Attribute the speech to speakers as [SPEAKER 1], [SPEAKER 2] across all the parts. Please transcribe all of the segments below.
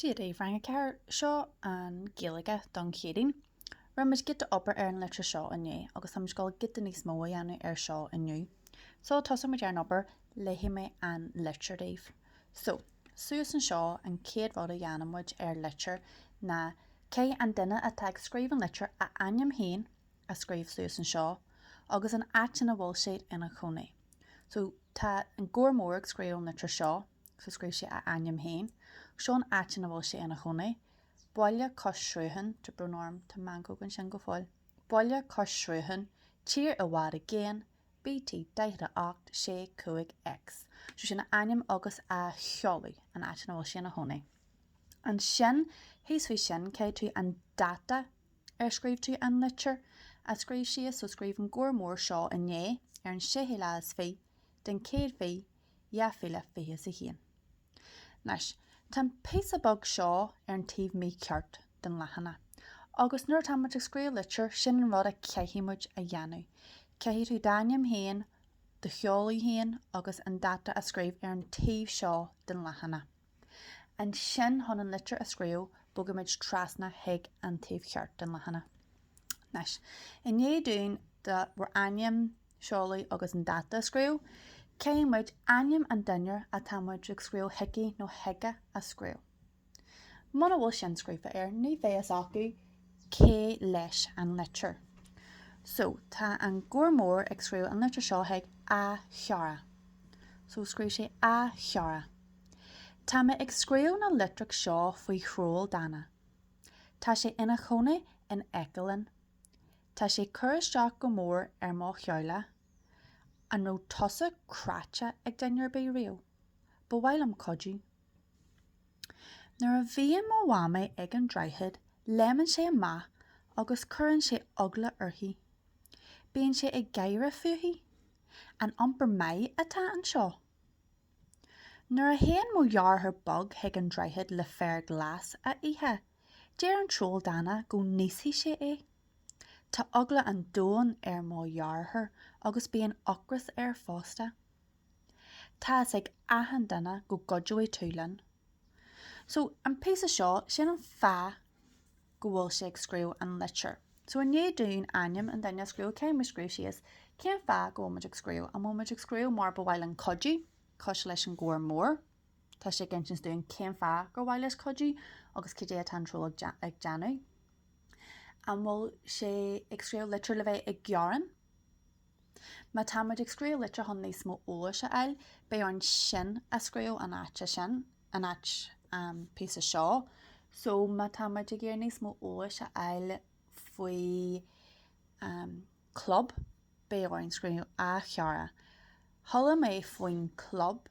[SPEAKER 1] Dia daoibh Rang 4, seo an Gaeilge don Chéadaoin. Rinne muid giota obair ar an litir seo inné agus táimid ag gabháil giota níos mó a dhéanamh ar seo inniu. Sula dtosaíonn muid ar an obair, léifidh mé an litir daoibh. So, suas anseo an chéad rud a dhéanann muid ar litir ná cé an duine atá ag scríobh an litir a ainm féin a scríobh suas anseo agus an áit ina bhfuil siad ina chónaí. So, tá an Gabhar Mór ag scríobh an litir seo. so scríobh sé a ainm féin. Seo an áit ina bhfuil sé ina chónaí. Baile cois srutháin, tá brón orm, tá meancóg ansin go fóill. Baile cois srutháin, tír i bhfad i gcéin, BT, 48, 6, 5, X, so sin a ainm agus a sheoladh, an áit ina bhfuil sé ina chónaí. Ansin, thíos faoi sin, caithfidh tú, an dáta ar scríobh tú an litir a scríobh síos, so scríobh an Gabhar Mór seo inné, ar an séú lá is fiche, den chéad mhí, 2021. Anois, tá an píosa beag seo ar an taobh mícheart den leathanach, agus nuair atá muid ag scríobh litir, sin an rud a chaithfidh muid a dhéanamh. Caithfidh tú d'ainm féin, do sheoladh féin agus an dáta a scríobh ar an taobh seo den leathanach. Ansin chun an litir a scríobh, bogann muid trasna chuig an taobh cheart den leathanach. Anois, i ndiaidh dúinn bhur ainm, seoladh agus an dáta a scríobh, caithfidh muid ainm an duine atá muid ag scríobh chuici nó chuige a scríobh. Muna bhfuil sin scríofa air, ní bheidh a fhios acu cé leis an litir. So, tá an Gabhar Mór ag scríobh an litir seo chuig a chara. So, scríobh sé A chara. Tá mé ag scríobh na litreach seo faoi throll dána. Tá sé ina chónaí in aice linn. Tá sé ag cur isteach go mór ar mo theaghlach. An raibh tusa cráite ag duine ar bith riamh? Ba mhaith liom cuidiú. Nuair a bhíonn mo mhamaí ag an droichead léimeann sé amach agus cuireann sé eagla uirthi. Bíonn sé ag gáire fúithi. An iompar maith atá anseo? Nuair a théann mo dheartháir beag chuig an droichead le féar glas a ithe, deir an troll dána go n-íosfaidh sé é. Tá eagla an domhain ar mo dheartháir agus bíonn ocras air fosta. Tá a fhios ag achan duine go gcuideoidh tú linn. So, an píosa seo, sin an fáth. go bhfuil sé ag scríobh an litir. So i ndiaidh dúinn ainm an duine a scríobh, caithfidh muid scríobh síos, cén fáth go bhfuil muid ag scríobh? An bhfuil muid ag scríobh mar ba mhaith linn cuidiú? Cosúil leis an Gabhar Mór, tá sé ag insint dúinn cén fáth gur mhaith leis cuidiú agus cad é atá an troll ag déanamh. An bhfuil sé ag scríobh litir le bheith ag gearán? Má tá muid ag scríobh litir chun níos mó eolais a fháil, beidh orainn sin a scríobh an áit sin, an áit, an píosa seo. So má tá muid ag iarraidh níos mó eolais a fháil faoi an club, beidh orainn scríobh A chara, chuala mé faoin club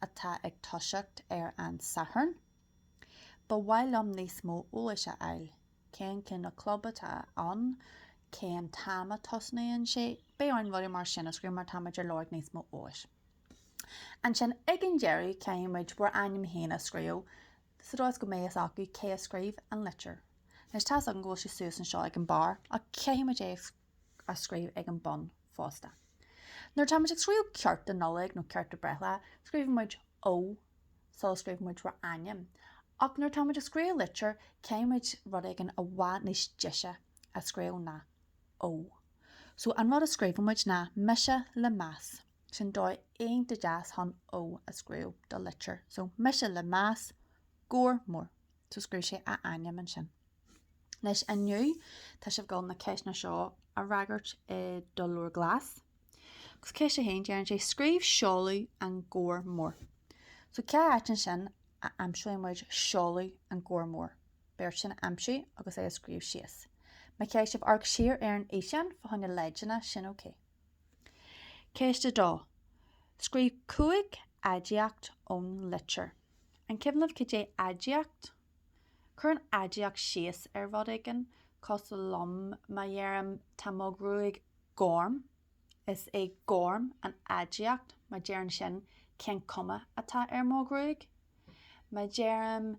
[SPEAKER 1] atá ag toiseacht ar an Satharn. Ba mhaith liom níos mó eolais a fháil. cén cineál club atá ann, cén t-am a tosnaíonn sé, beidh orainn rudaí mar sin a scríobh mar tá muid ar lorg níos mó eolais. Ansin ag an deireadh caithfidh muid bhur ainm féin a scríobh sa dóigh is go mbeidh fhios acu cé a scríobh an litir. Anois tá's agam go bhfuil sé suas anseo ag an barr ach caithfidh muid é a a scríobh ag an bun fosta. Nuair atá muid ag scríobh cárta do Nollaig nó cárta do breithlá, scríobhann muid Ó sula scríobhann muid ár ainm. Ach nuair atá muid ag scríobh litir, caithfidh muid rud éigin i bhfad níos deise a scríobh ná Ó. So an rud a scríobhann muid ná Mise le meas. Sin dóigh iontach deas chun Ó a scríobh do litir. So Mise le meas, Gabhar Mór. so scríobh sé a ainm ansin. Anois inniu tá sibh goil na ceisteanna seo a fhreagairt i do leabhar glas. Agus ceist a haon deireann sé scríobh seoladh an Gabhar Mór. So cá háit ansin a aimseoidh muid seoladh an Gabhar Mór? Beidh ort sin a aimsiú agus é a scríobh síos. Má chaithfidh sibh amharc siar ar an fhíseán fá choinne leideanna, sin okay. Ceist 2. Scríobh cúig aidiacht ón litir. An cuimhin libh cad é aidiacht? Cuireann aidiacht síos ar rud éigin, cosúil le, má dheirim tá mo ghruaig gorm, is é gorm an aidiacht, mar deireann sin, cén cuma atá ar mo ghruaig? Má dheirim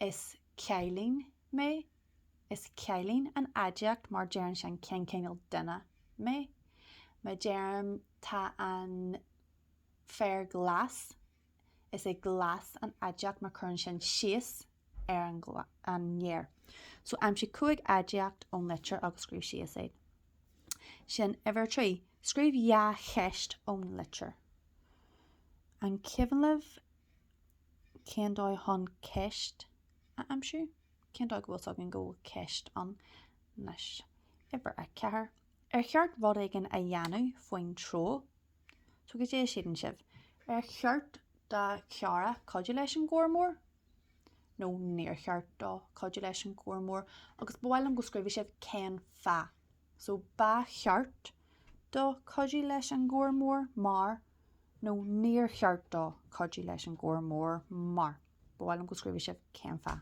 [SPEAKER 1] is cailín mé, Is cailín an aidiacht mar deireann sin cén cineál duine mé. Má deirim tá an féar glas, is é glas an aidiacht mar cuireann sin síos ar an fhéar. So aimsigh cúig aidiacht ón litir agus scríobh síos iad. Sin uimhir a trí. Scríobh dhá cheist ón litir. An cuimhin libh cén dóigh chun ceist a aimsiú? Cén dóigh go bhfuil 's againn go bhfuil ceist ann anois? Uimhir a ceathair, Ar cheart rud éigin a dhéanamh faoin troll? So cad é a shíleann sibh? Ar cheart do chara cuidiú leis an Gabhar Mór? Nó níor cheart dó cuidiú leis an Gabhar Mór? Agus ba mhaith liom go scríobhadh sibh cén fáth. so ba cheart dó cuidiú leis an Gabhar Mór mar nó níor cheart dó cuidiú leis an gcóir mór mar. Ba mhaith liom go scríobhadh sibh cén fáth.